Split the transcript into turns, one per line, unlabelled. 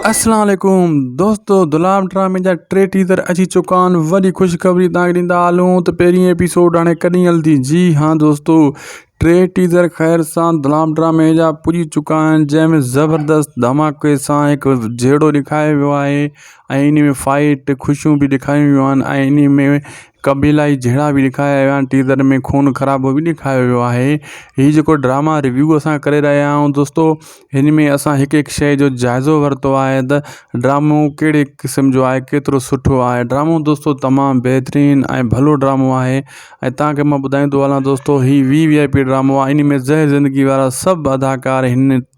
السلام عليڪم
دوستو دلاب ڊرامي جا ٽي ٽيزر اچي چڪا آهن وڏي خوشخبري توهان کي ڏيندا هلون ته پهرين ايپيسوڊ هاڻي ڪڏهن هلندي جي ها دوستو ٽي ٽيزر خير سان دلاب ڊرامي جا پڄي چڪا آهن جنهن ۾ زبردست ڌماڪي سان هڪ جهيڙو ڏيکاريو ويو آهي ۽ انهي ۾ فائيٽ خوشيون به ڏيکاريون ويون آهن ۽ انهي ۾ قبيلائي جهيڙا به ڏيکاريا ويا آهن ٽيزر ۾ خون خرابو به ڏيکاريو ويو آهي هي جيڪو ڊراما ريويو اسان ڪري رهيا آهيون دوستو هن ۾ اسان هڪ هڪ شيء جو جائزو ورتو آهي ته ڊرامو ڪهڙي قسم جو آهي ڪيترو سٺو آهي ڊرامو دوستو تمام بهترين ۽ ڀلو ڊرامو آهي ۽ تان کي مان ٻڌائيندو هلان دوستو هي وي وي آئي پي ڊرامو آهي انهي ۾ زهر زندگي وارا سڀ اداڪار هن